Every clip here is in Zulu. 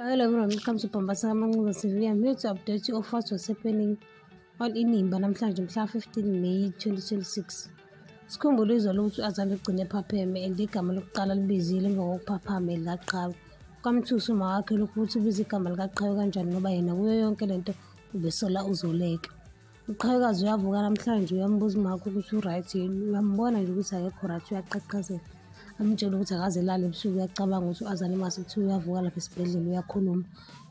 Hello everyone, welcome to Pambasa Manguza TV. I'm here to update you of what was happening on Inimba namhlanje mhla 15 May 2026. Sikhumbule izwa lokuthi u-Azali ugcine ephapheme and igama lokuqala libizile emva kokuphaphama elaqhawe. Kwamthusa uma wakhe lokhu ukuthi ubiza igama likaqhawe kanjani ngoba yena kuyo yonke lento ubesola uzoleka. Uqhawekazi uyavuka namhlanje uyambuza umakho ukuthi u-right yini uyambona nje ukuthi akekho right uyaqaqazela amtshele ukuthi akaze lale ebusuku uyacabanga ukuthi u-azane mase kuthiwa uyavuka lapha esibhedlela uyakhuluma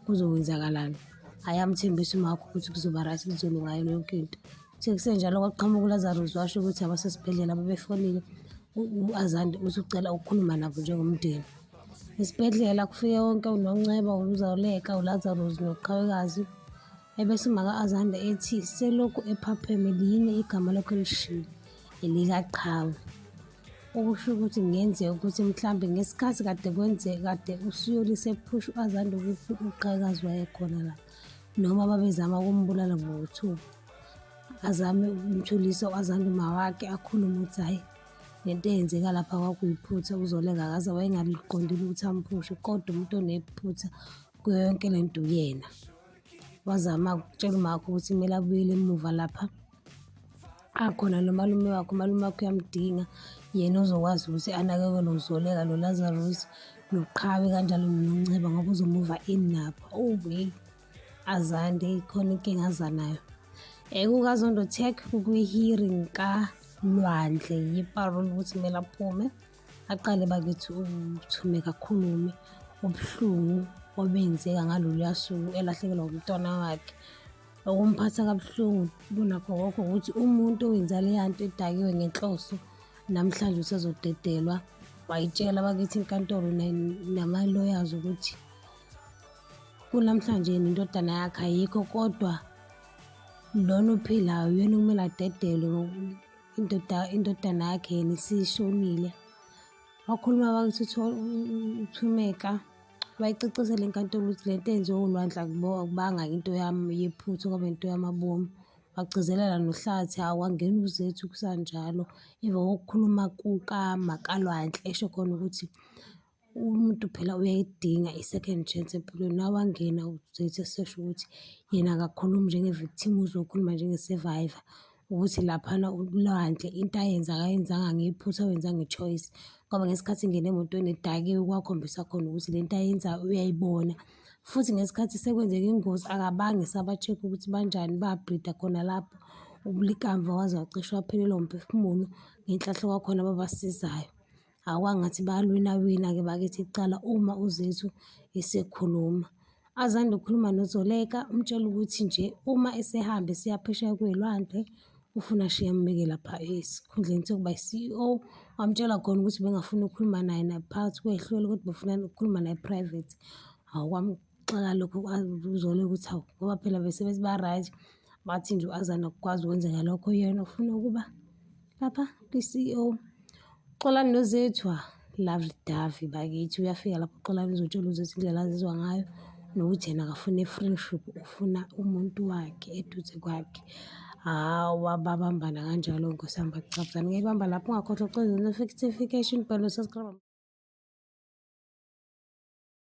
kuzokwenzakalani hhayi amthembisa umakho ukuthi kuzoba right kuzolunga yona yonke into uthe kusenjalo kwaqhamuka ulazarus washo ukuthi abasesibhedlela ababefonile u-azande uthi ucela ukukhuluma nabo njengomndeni esibhedlela kufike wonke unonceba uluzaleka ulazarus noqhawekazi Ebese umaka Azanda ethi selokhu ephapheme liyini igama lokhu elishilo elikaqhawe. Okusho ukuthi kungenzeka ukuthi mhlambe ngesikhathi kade kwenzeka kade usuyolise ephusha u-Azanda ukuthi uqhakazi wayekhona la noma babezama ukumbulala ngokuthuka azame ukumthulisa u-Azanda umawakhe akhulume ukuthi hhayi le nto eyenzeka lapha kwakuyiphutha uzoleka akaze wayengaliqondile ukuthi amphushe kodwa umuntu onephutha kuyo yonke le nto uyena. wazama ukutshela umakho ukuthi kumele abuyele emuva lapha akhona nomalume wakho umalume wakho uyamdinga yena uzokwazi ukuthi anakekele nozoleka nolazarus noqhawe kanjalo nonceba ngoba uzomuva ini nabo owey azande ikhona inkinga azanayo ekukazondotek kwi-hearing kalwandle yiparol ukuthi kumele aphume aqale bakithi ukuthume kakhulume ubuhlungu obenzeka ngaloluya suku elahlekelwa umntwana wakhe okumphatha kabuhlungu kunakho konke ukuthi umuntu owenza leya nto edakiwe ngenhloso namhlanje usezodedelwa wayitshela bakithi inkantolo namaloyazi ukuthi kunamhlanje yena indodana yakhe ayikho kodwa lona ophilayo uyena okumele adedelwe indoda indodana yakhe yena isishonile wakhuluma bakithi uthumeka bayicacesele inkantolo ukuthi le nto enziwe ulwandla akubanga into yami yephutha kwaba into yamabomu wagcizelela nohlathi hawu wangena uzethu kusanjalo emva kokukhuluma kuka makalwandle esho khona ukuthi Umuntu phela uyayidinga i-second chance empilweni. Nawangena uzothi esesho ukuthi yena akakhulumi njenge-victim, uzokhuluma njenge-survivor. Ukuthi laphana ulwandle into ayenza akayenzanga ngephutha, wenza nge-choice ngoba ngesikhathi engena emotweni edakiwe kwakhombisa khona ukuthi le nto ayenzayo uyayibona. Futhi ngesikhathi sekwenzeka ingozi akabange esaba-check-a ukuthi banjani, babhrida khona lapho. Ubulikamva waze wacishe waphelelwa wumphefumulo ngenhlahla kwakhona ababasizayo. Awu kwangathi bayalwinawina-ke bakithi kuqala uma uZethu esekhuluma. Azande ukukhuluma noZoleka umtshela ukuthi nje uma esehambe siyaphesheya kwelwandle ufuna ashiye ambeke lapha esikhundleni sokuba i-CEO wamtshela khona ukuthi bengafuni ukukhuluma naye naphakathi kwehlelo kodwa befuna ukukhuluma naye private. Hawu Xaka lokho uzole ukuthi hawu ngoba phela besebethi ba-right bathi nje u-Azana ukwazi ukwenza ngalokho yena ufuna ukuba lapha kwi-CEO. Xolani nozethu ah, lovely Davi bakithi uyafika lapho uXolani uzotshela uzethu indlela azizwa ngayo nokuthi yena akafuna i-friendship ufuna umuntu wakhe eduze kwakhe. Hawa babambana kanjalo nkosi yami bacabuzana ngeke bamba lapho ungakhohlwa ucela notification bhalo subscribe.